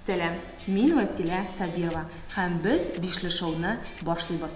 Сәлам, мин Василә Сабирова һәм без Бишле шоуны башлыйбыз.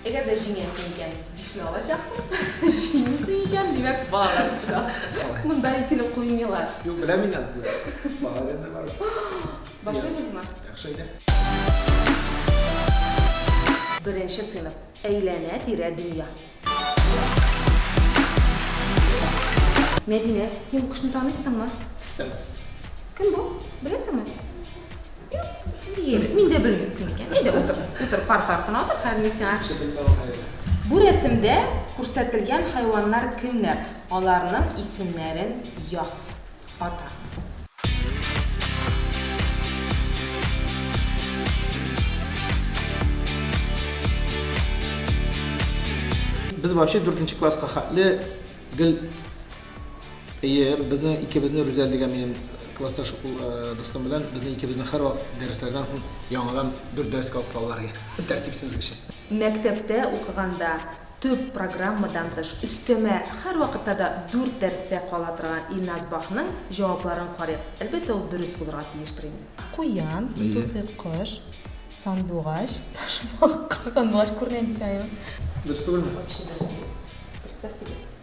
Әгәр дә җиңәсең икән, бишне алачаксың, җиңмисең икән, димәк, бала да Монда икене куймыйлар. Юк, беләм мин ансны. Бала гына бар. Башлыйбызмы? Яхшы әйдә. Беренче сыйныф. Әйләнә-тирә дөнья. Мәдинә, син бу кешене таныйсыңмы? Таныйбыз. Кем бу? Беләсеңме? Егет, мин дә белмим кем икән. Әйдә утыр, утыр, парк артына утыр, хәзер мин сиңа кеше белеп алам. Бу рәсемдә күрсәтелгән хайваннар кемнәр? Аларның исемнәрен яз. Ата. Без вообще дүртенче класска хәтле гел Әйе, безнең икебезне Рүзәл дигән минем классташ ул дустым белән безнең икебезне һәрвакыт дәресләрдән соң яңадан бер дәрескә алып калалар иде. Тәртипсезлек өчен. Мәктәптә укыганда төп программадан тыш өстәмә һәрвакытта да дүрт дәрестә кала торган Илназ Бахның җавапларын карыйк. Әлбәттә, ул дөрес булырга тиештер инде. Куян, тутый кош, сандугач, ташбакка. Сандугач күренә инде сиңа, юк? Дөрес түгелме? Вообще дөрес түгел. Представь себе.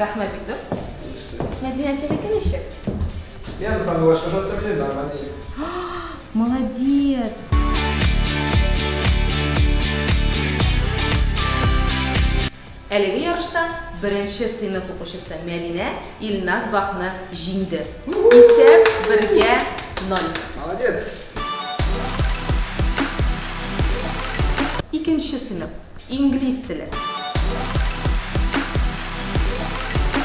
Рәхмәт, Бизү. Мәдинә, синеке ничек? Я сам башка что-то блин, нормально. Молодец! Әлеге ярышта беренче сыйныф укучысы Мәдинә Илназ Бахны җиңде. Исәп бергә 0. Молодец! Икенче сыйныф Инглиз теле.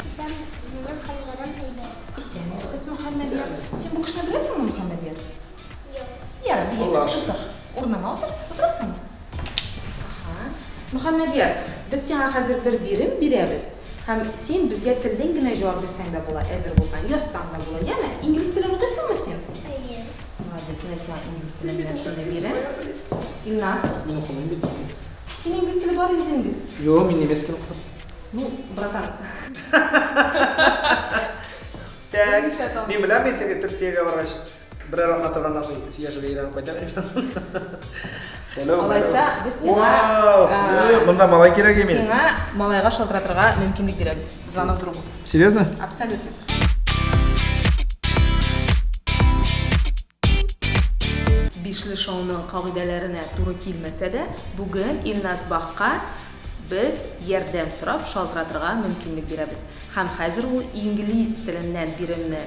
Исәнмесез, минем хәлләрем әйбәт. Исәнмесез, Мөхәммәдия. Син бу кешене беләсеңме, Мөхәммәдия? Юк. Йә, бигрәк тотык. Урыныңа утыр. Утырасыңмы? Аһа. Мөхәммәдия, без сиңа хәзер бер бирем бирәбез. Һәм син безгә телдән генә җавап бирсәң дә була, әзер булсаң, язсаң да була, яме? Инглиз телен укыйсыңмы син? Әйе. Молодец, мин сиңа инглиз теле белән шундый бирәм. Илназ. Мин укымыйм бит. Син инглиз теле бар дидең бит. Юк, мин немец телен укыдым. Ну, братан. Так, мин беләм мин теге төркиягә баргач. Берәр атна торганнан соң икенче яшьгә әйләнеп кайтам инде. Алайса, без сиңа... Монда малай кирәк име? Сиңа малайга шалтыратырга мөмкинлек бирәбез. Звонок другу. Серьезно? Абсолютно. Бишле шоуның кагыйдәләренә туры килмәсә дә, бүген Илназ Бахка без ярдәм сорап шалтыратырга мөмкинлек бирәбез. Һәм хәзер ул инглиз теленнән биремне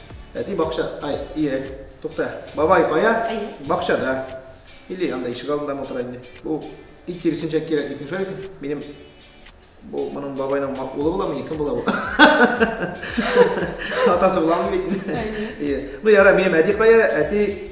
Әти бакча, ай, ие, тукта, бабай кая? Әйе. Бакчада. Или анда ишек алдында ма утыра инде. Бу и киресенчә кирәк микән шулай микән? Минем бу моның бабайның улы буламы икән була бу? Атасы буламы бит? Әйе. Ну яра, минем әти кая? Әти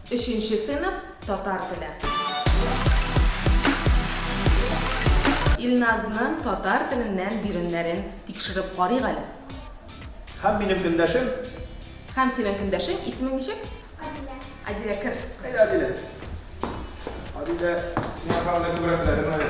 Өченче сыйныф татар теле. Илназның татар теленнән биремнәрен тикшереп карыйк әле. Һәм минем көндәшем. Һәм синең көндәшең, исемең ничек? Адилә. Адилә, кер. Әйдә, Адилә. Адилә, миңа караганда күбрәк белә, димени?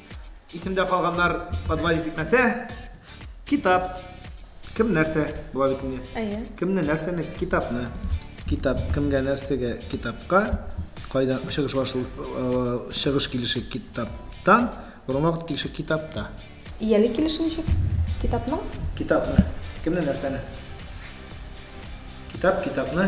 Исемдә калганнар подвалить итмәсә, китап. Кем нәрсә була бит инде. Әйе. Кемне нәрсәне китапны. Китап кемгә нәрсәгә китапка кайда чыгыш башы э, чыгыш килеше китаптан, борынгы вакыт килеше китапта. Ияле килеше ничек? Китапның? Китапны. Кемне нәрсәне? Китап китапны.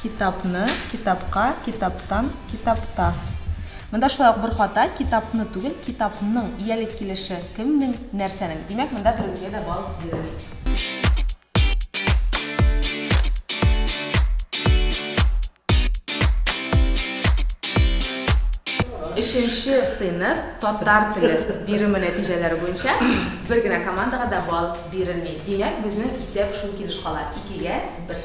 Китапны, китапка, китаптан, китапта. Монда шулай ук бер хата, китапны түгел, китапның, иялек килеше, кемнең, нәрсәнең. Димәк, монда беребезгә дә балл бирелми. Өченче сыйныф татар теле биреме нәтиҗәләре буенча бер генә командага да балл бирелми. Димәк, безнең исәп шул килеш кала, икегә бер.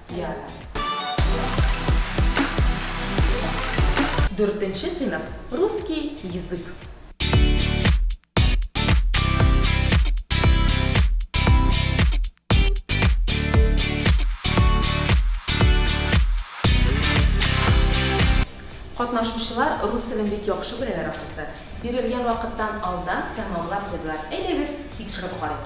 Дүртенче сыйныф. Русский язык. Катнашучылар рус телен бик яхшы беләләр ахрысы. Бирелгән вакыттан алдан тәмамлап куйдылар. Әйдәгез, тикшереп карыйк.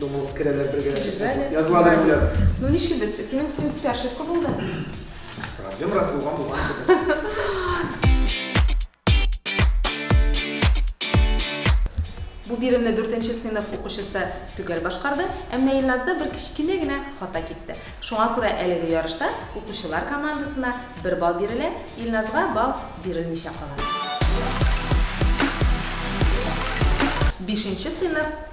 Думалып керәләр бергә. Җибәле. Язлары белән. Ну ничебез? Синең в принципе ошибка булды. Проблем раз булган булган Бу биремне 4 сыйныф укучысы төгәл башкарды, ә менә Илназда бер кечкенә генә хата китте. Шуңа күрә әлеге ярышта укучылар командасына 1 балл бирелә, Илназга балл бирелмичә кала. Бишенче сыйныф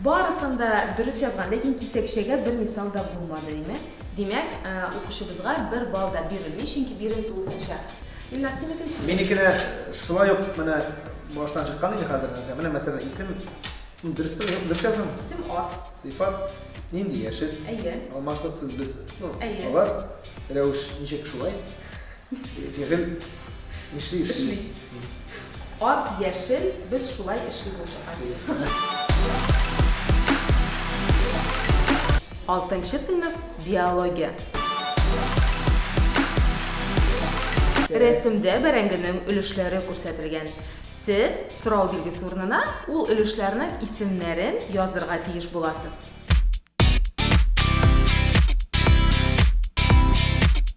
Барысын да дөрес язган, ләкин кисәкчәгә бер мисал да булмады, димә. Димәк, э, укучыбызга бер балл да бирелми, чөнки бирем тулысынча. Илназ, синеке ничек? Минеке дә шулай ук менә баштан чыккан инде хәзер. Менә мәсәлән, исем дөрес пе, юк, дөрес язган. Исем ат. Сыйфат нинди яшел? Әйе. Алмашлык сез без. Ну, Әйе. Алар рәвеш ничек шулай? Егет эшли эшли. Эшли. Ат яшел, без шулай эшли булдык, Азия. Алтынчы сыйныф, биология. Рәсемдә бәрәңгенең өлешләре күрсәтелгән. Сез сорау билгесе урынына ул өлешләрнең исемнәрен язырга тиеш буласыз.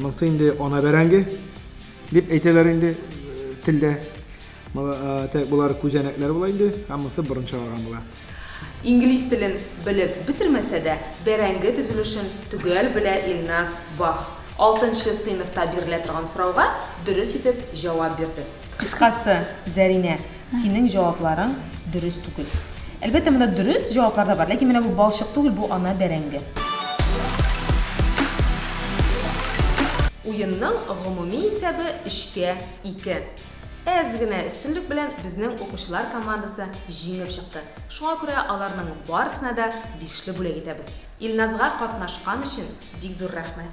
Монсы инде ана бәрәңге дип әйтәләр инде телдә. Болар күзәнәкләр була инде, ә монсы борын чыгарган була. Инглиз телен белеп бетермәсә дә, бәрәңге төзелешен төгәл белә Илназ Бах. Алтынчы сыйныфта бирелә торган сорауга дөрес итеп җавап бирде. Кыскасы, Зәринә, синең җавапларың дөрес түгел. Әлбәттә, монда дөрес җаваплар да бар, ләкин менә бу балчык түгел, бу ана бәрәңге. Уенның гомуми исәбе өчкә ике. Әз генә өстенлек белән безнең укучылар командасы җиңеп чыкты. Шуңа күрә аларның барысына да бишле бүләк итәбез. Илназга катнашкан өчен бик зур рәхмәт!